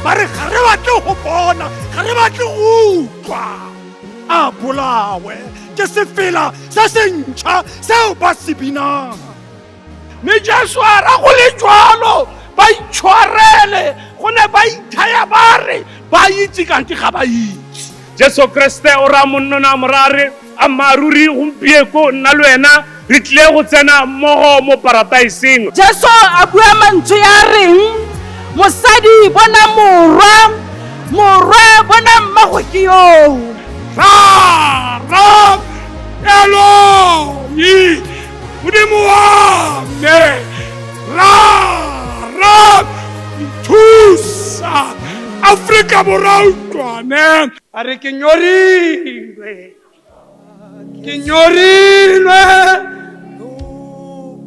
ba re ga re batle go bona ga re batle go utlwa a bolawe ke sefela se se ntšha seo ba se binang mme jesu a ra go le jalo ba itshwarele go ne ba ithaya ba re ba itse kante ga ba itse jesu kriste o ra monnona morare ammaaruri gompieko nna le wena re tlile go tsena mmogo mo parataiseng jesu a bua mantswe ya reng mosadi bona morwa morwa bona mmago ke yoo rara eloi modimo wa me rara nthusa aforika borwa utlwane a re ke nyorilwe ke nyorilwe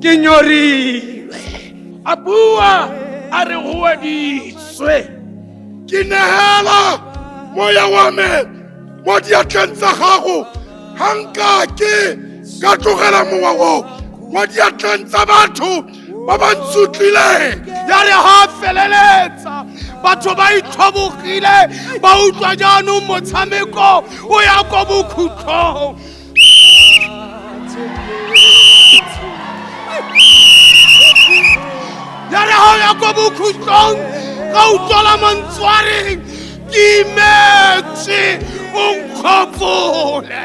ke nyorilwe a bua a re goeditswe ke negela moya wa me mo diatleng tsa gago ga nka ke ka tlogela mowa o mo diatleng tsa batho ba ba ntsutlileng ya re ga a feleletsa batho ba itlhobogile ba utlwa jaanong motshameko o ya ko bokhutlhong ya re ga o ya ko bokhutlhong ga utlwala mantswareng ke imetse o nkgopole